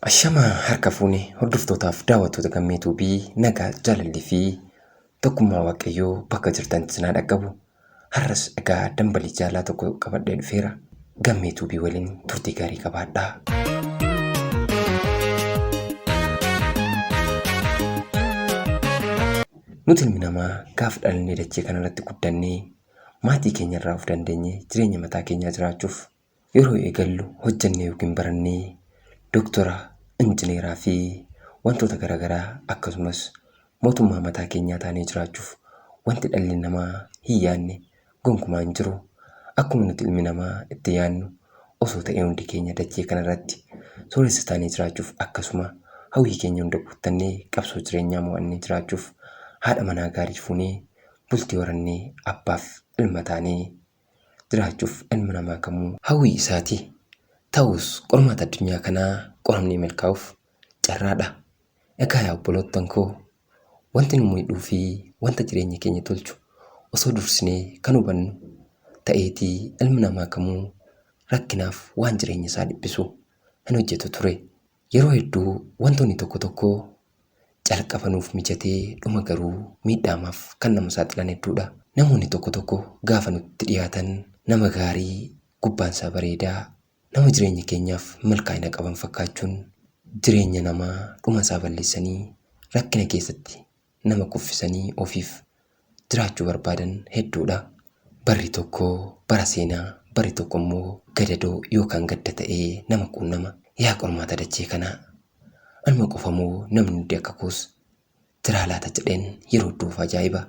Ashamaa harka fuune hordoftootaaf daawwattoota gammee tuubii nagaa jaalallii fi tokkummaa waaqayyoo bakka jirtan sinaa dhaqqabu Har'as egaa dambalii jaalaa tokko qabadhee dhufeera. Gammee tuubii waliin turtii gaarii qabaadhaa. Nuti ilmi namaa gaafa dhalannee dachee kanarratti guddannee maatii keenyarraa of dandeenye jireenya mataa keenyaa jiraachuuf Yeroo eegallu hojjannee yookiin barannee doktora, injineeraa fi wantoota gara garaa akkasumas mootummaa mataa keenyaa taanee jiraachuuf wanti dhalli namaa hin yaadne gonkumaa hin jiru. Akkuma nuti ilmi namaa itti yaadnu osoo ta'ee hundi keenya dachee kanarratti sooressa taanee jiraachuuf akkasuma hawwii keenya hunda guuttannee qabsoo jireenyaa mo'annee jiraachuuf haadha manaa gaarii fuunee bultii horannee abbaaf ilma taanee jiraachuuf ilmi namaa kamuu hawwii isaati. Ta'us, qormaata addunyaa kanaa qoramnee milkaa'uuf carraadha. Egaa yaa obboloottan koo, wanti nu miidhuu fi wanta jireenya keenya tolchu osoo dursinee kan hubannu ta'eetii ilmi namaa kamuu rakkinaaf waan jireenya isaa dhiphisu hin hojjetu ture. Yeroo hedduu wantoonni tokko tokko Calqaba nuuf mijatee dhuma garuu miidhaamaaf kan nama saaxilan hedduudha. Namoonni tokko tokko gaafa nutti dhiyaatan nama gaarii, gubbaan isaa bareedaa, nama jireenya keenyaaf milkaa'ina qaban fakkaachuun jireenya namaa dhuma isaa balleessanii rakkina keessatti nama kuffisanii ofiif jiraachuu barbaadan hedduudha. Barri tokko bara seenaa, barri tokko immoo gadadoo yookaan gadda ta'ee nama quunnama. Yaa qormaata dachee kanaa! Anuma qofa moo namni hundi akka koos jiraa laata jedheen yeroo iddoo of ajaa'iba.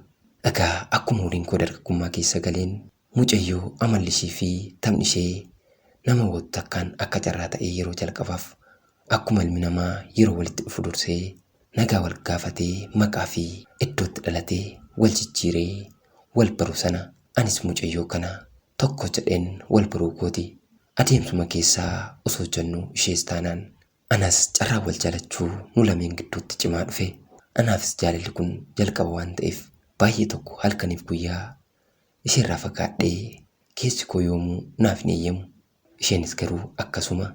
Egaa akkuma umuriin koo dargaggummaa keessa galeen Mucayyoo amalli ishee fi taphni ishee nama hawwatu takkaan akka carraa ta'ee yeroo jalqabaaf akkuma ilmi namaa yeroo walitti dhufu dursee nagaa wal gaafatee maqaa fi iddoo itti dhalate wal jijjiiree wal baru sana anis mucayyoo kana tokko jedheen wal baruu kooti. Adeemsuma keessa osoo jennu ishees taanaan anas carraan wal jaalachuu nu lameen gidduutti cimaa dhufe. Anaafis jaalalli kun jalqaba waan ta'eef baay'ee tokko halkaniif guyyaa Isheerraa fagaadhee keessi koo yoomuu naaf hin eeyyamu. Isheenis garuu akkasuma.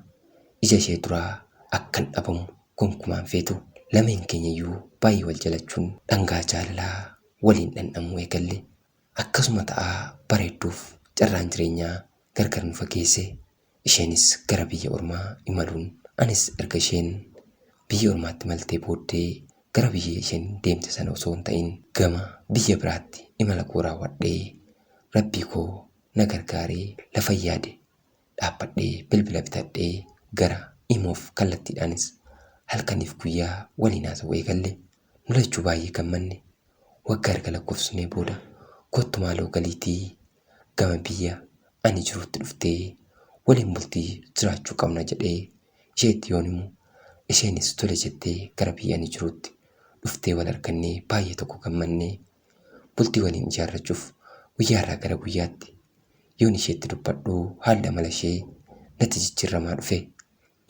Ija ishee duraa akkan dhabamu gonkumaa hin feetu. Lameen keenyayyuu baay'ee wal jalachuun dhangaa jaalalaa waliin dhandhamuu eegalle. Akkasuma ta'aa bareedduuf carraan jireenyaa gargar nu fageesse. Isheenis gara biyya ormaa imaluun anis erga isheen biyya ormaatti imaltee booddee gara biyya isheen deemte sana osoo hin ta'in gama biyya biraatti imala koo raawwadhee rabbii koo na gargaaree lafan yaade dhaabbadhee bilbila bitadhee gara imoof kallattiidhaanis halkaniif guyyaa waliin haasa'uu eegalle. Nu lachuu baay'ee gammanne. Wagga erga lakkofsnee booda kottu maaloo galiitii gama biyya ani jirutti dhuftee waliin bultii jiraachuu qabna jedhee isheetti yoon himu isheenis tole jettee gara biyya ani jirutti dhuftee wal argannee baay'ee tokko gammannee bultii waliin ijaarrachuuf guyyaarraa gara guyyaatti yoon isheetti dubbadhu haalli amala ishee natti jijjiirramaa dhufe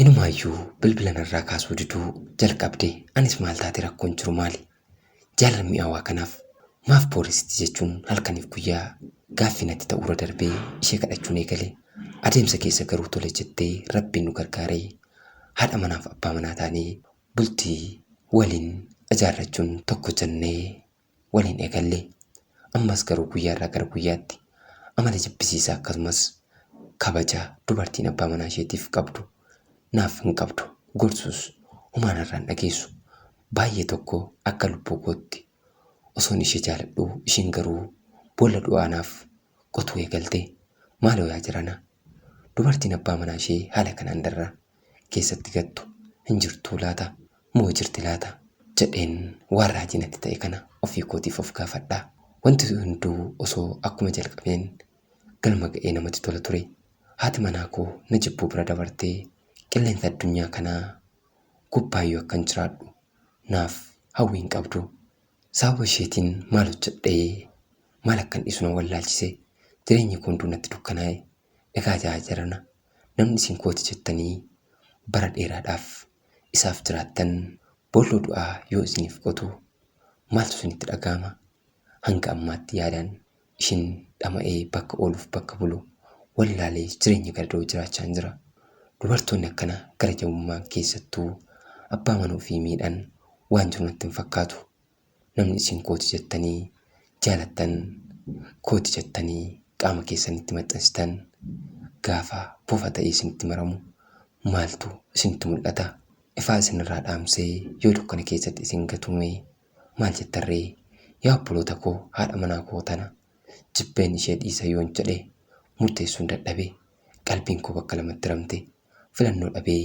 Inumaayyuu bilbila narraa kaasuu diduu jalqabde anis maal taate rakkoon jiru maali? Jaallan mi'aawaa kanaaf maaf booressiti jechuun halkaniif guyyaa gaaffii natti ta'uurra darbee ishee kadhachuun eegale. Adeemsa keessa garuu tole jettee Rabbiin nu gargaare. Haadha manaaf abbaa manaa taanee bultii waliin ijaarrachuun tokko jennee. waliin eegalle. Ammas garuu guyyaarraa gara guyyaatti amala jibbisiisaa akkasumas kabaja dubartiin abbaa manaa isheetiif qabdu naaf hin qabdu. Gorsuus homaa narraan dhageessu. Baay'ee tokko akka lubbuu kootti osoon ishee jaaladhuu isheen garuu boolla du'aa naaf qotuu eegalte. Maaloo yaa jirana! Dubartiin abbaa manaa ishee haala kanaan darra keessatti gattu hin jirtuu laata? Moo jirti laata? jedheen waan raajii natti ta'e kana ofii kootiif of gaafadha. Wanti hunduu osoo akkuma jalqabeen galma ga'ee namatti tola ture. Haati manaa koo na jibbuu bira dabartee qilleensa addunyaa kanaa gubbaayyuu akkan jiraadhu naaf hawwii hin qabdu. Sababa isheetiin maal hojjedhee maal akkan dhiisu na wallaalchise. Jireenyi koo hunduu natti dukkanaa'e. Egaa jaajarana namni isin kooti jettanii bara dheeraadhaaf isaaf jiraattan boolloo du'aa yoo isiniif qotu maaltu isinitti dhaga'ama? Hanga ammaatti yaadaan ishin dhama'ee bakka ooluuf bakka bulu wallaalee jireenya gadadoo jiraachaan jira. Dubartoonni akkana gara jabummaan keessattuu abbaa mana ofii miidhan waan jiru natti hin fakkaatu. Namni isin kooti jettanii jaalattan, kooti jettanii qaama keessanitti maxxansitan gaafa bofa ta'ee isinitti maramu maaltu isinitti mul'ata? Ifaa isinirraa dhaamsee yoo dukkana keessatti isin gatume maal jettarree? Yaa obboloota koo haadha manaa koo tana jibbeen ishee dhiisa yoon jedhe murteessuun dadhabe. Qalbiin koo bakka lamatti ramte. filannoo dhabee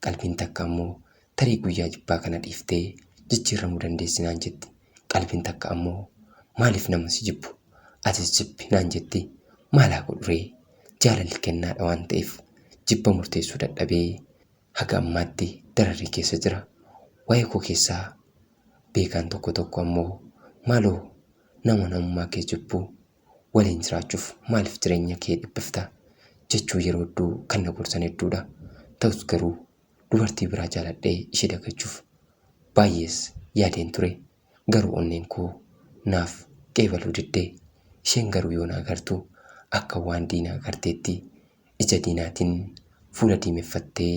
qalbiin takka ammoo tarii guyyaa jibbaa kana dhiiftee jijjiirramuu dandeessi naan jetti. Qalbiin takka ammoo maaliif nama si jibbu atis jibbi naan jetti. Maal haa godhuree? Jaalalli kennaadha waan ta'eef jibba murteessuu dadhabee haga ammaatti dararrii keessa jira. Waa'ee koo keessaa beekaan tokko tokko ammoo maaloo nama namummaa kee jibbu waliin jiraachuuf maaliif jireenya kee dhiphifta jechuu yeroo hedduu kan na gorsan hedduudha. Ta'us garuu dubartii biraa jaaladhee ishee dagachuuf baay'ees yaadeen ture. Garuu onneen koo naaf qeebaluu didde. Isheen garuu yoo na agartu akka waan diina agarteetti ija diinaatiin fuula diimeffattee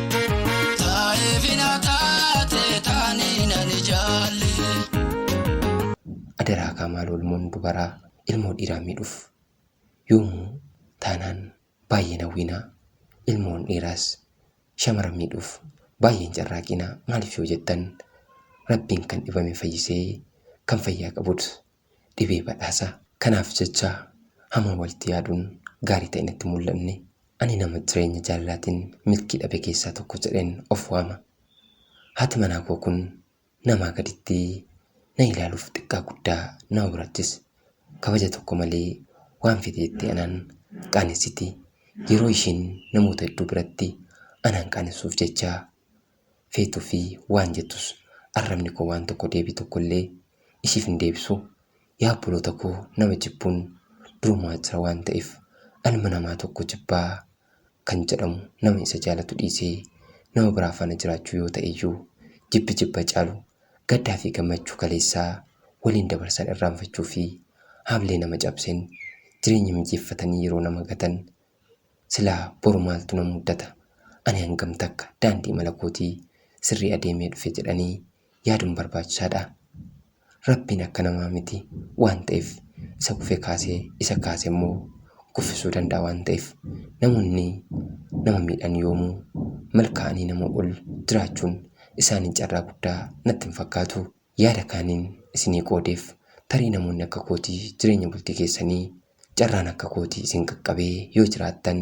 Taa'eefi na taate taanii nan ijaalle. Adaraa kaa maaloo ilmoon dubaraa ilmoo dhiiraa miidhuuf yoomuu taanaan baay'ee hin hawwiinaa ilmoon dhiiraas shamara miidhuuf baay'ee hin carraaqiinaa maaliif yoo jettan rabbiin kan dhibame fayyisee kan fayyaa qabut dhibee badhaasaa. Kanaaf jecha hamaa walitti yaaduun gaarii ta'ee natti hin mul'anne. Ani nama jireenya jaalalaatiin milkii dhabe keessaa tokko jedheen of waama. Haati manaa koo kun namaa gaditti na ilaaluuf xiqqaa guddaa na obrachis. Kabaja tokko malee waan fete jettee anaan qaanessiti. Yeroo ishiin namoota hedduu biratti anaan qaanessuuf jecha feetu fi waan jettus arrabni koo waan tokko deebii tokko illee ishiif hin deebisu. Yaa obboloota koo nama jibbuun durumaa jira waan ta'eef ilma namaa tokko jibbaa kan jedhamu nama isa jaalatu dhiisee nama biraa faana jiraachuu yoo ta'e iyyuu jibbi jibba caalu gaddaa fi gammachuu kaleessaa waliin dabarsan irraanfachuu fi haamlee nama cabseen jireenya mijeeffatanii yeroo nama gatan Silaa boru maaltu na muddata? Ani hangam takka daandii imala kootii sirrii adeemee dhufe jedhanii yaaduun barbaachisaadha? Rabbiin akka namaa miti waan ta'eef isa kufe kaasee isa kaase immoo kuffisuu danda'a waan ta'eef namoonni nama miidhan yoomuu milkaa'anii nama ol jiraachuun isaanii carraa guddaa natti hin fakkaatu. yaada kaaniin isinii qoodeef tarii namoonni akka kootii jireenya bultii keessanii carraan akka kootii isin qaqqabee yoo jiraattan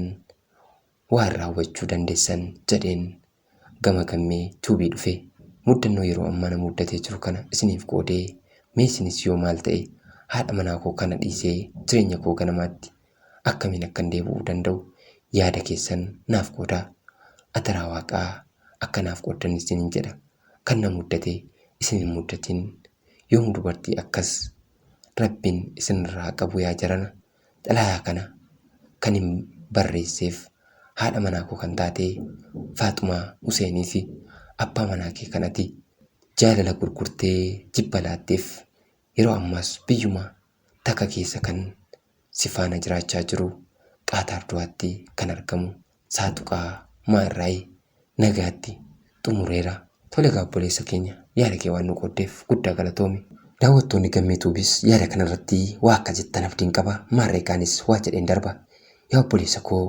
waa irraa hubachuu dandeessan jedheen gama gammee tuubii dhufe muddannoo yeroo ammaa na muddatee jiru kana isiniif qoodee mee isinis yoo maal ta'e haadha manaa koo kana dhiisee jireenya koo ganamaatti akkamiin akkan deebi'uu danda'u yaada keessan naaf qoodaa adaraa waaqaa akka naaf qooddan isinin jedha kan na muddate isin hin muddatin yoom dubartii akkas rabbiin isinirraa qabu yaa jarana xalayaa kana kan hin barreesseef haadha manaa koo kan taate faaxumaa huseenii fi abbaa manaa kee kanati jaalala gurgurtee jibba laatteef yeroo ammaas biyyuma takka keessa kan si faana jiraachaa jiru Qaataar Dohaatti kan argamu Saaxuqaa maa irraayi nagaatti xumureera. Tole egaa obboleessa keenya yaada kee waan nu qooddeef guddaa galatoomi. Daawwattoonni Gammee Tuubis yaada kana irratti waa akka jettan abdiin qaba. Maarree egaa anis waa jedheen darba. Yaa obboleessa koo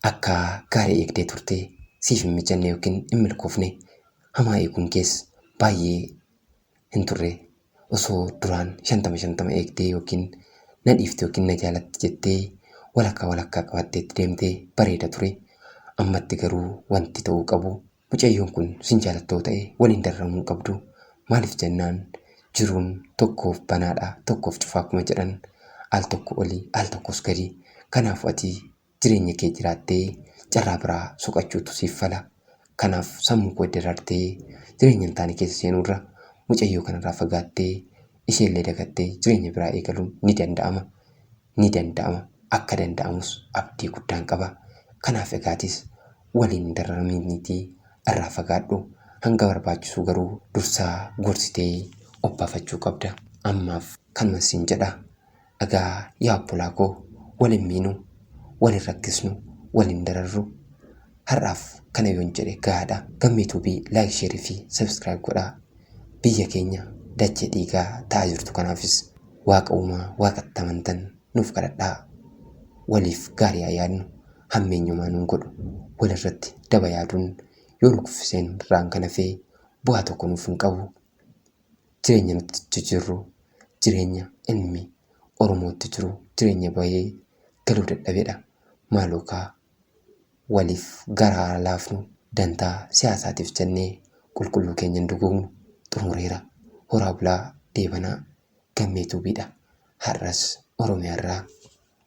akka gaarii eegdee turte siif hin mijanne yookiin hin milkoofne. Hamaa eeguun kees baay'ee hin turre. Osoo duraan shantama shantama eegdee yookiin na dhiifte yookiin na jaalatti jettee walakkaa walakkaa qabattee itti deemte bareeda ture. Ammatti garuu wanti ta'uu qabu mucayyoon kun sin jaalatta yoo ta'e waliin darramuu hin qabdu. Maaliif jennaan jiruun tokkoof banaadha tokkoof cufaa akkuma jedhan al tokko oli al tokkos gadi. Kanaafuu ati jireenya kee jiraattee carraa biraa soqachuutu siif fala. Kanaaf sammuu koo darartee jireenya hin taane keessa seenuu irra mucayyoo kanarraa fagaattee isheellee dagattee jireenya biraa eegaluun ni danda'ama. Ni danda'ama. Akka danda'amus abdii guddaan qaba. Kanaaf egaatis waliin hin dararamiiniitii irraa fagaadhu. Hanga barbaachisuu garuu dursaa gorsitee obbaafachuu qabda. Ammaaf kanuman siin jedha. Egaa yaa obbolaa koo wal hin miinu, wal hin rakkisnu, wal hin dararru. Har'aaf kana yoon jedhe gahaadha. Gammee Tuubii like, share fi subscribe godhaa. Biyya keenya dachee dhiigaa ta'aa jirtu kanaafis waaqa uumaa waaqatti amantan nuuf kadhadhaa. Waliif gaarii haa yaadnu. Hammeenyumaa nun godhu. Walirratti daba yaaduun yoo nu kuffiseen irraan kan hafee bu'aa tokko nuuf hin qabu. jireenya nuti itti jirru jireenya ilmi Oromoo itti jiru jireenya bahee galuu dadhabedha. Maaloo kaa waliif garaa haa laafnu dantaa siyaasaatiif jennee qulqulluu keenya hin duguugnu xumureera. Horaa bulaa deebanaa gammee tuubiidha. Har'as Oromiyaarraa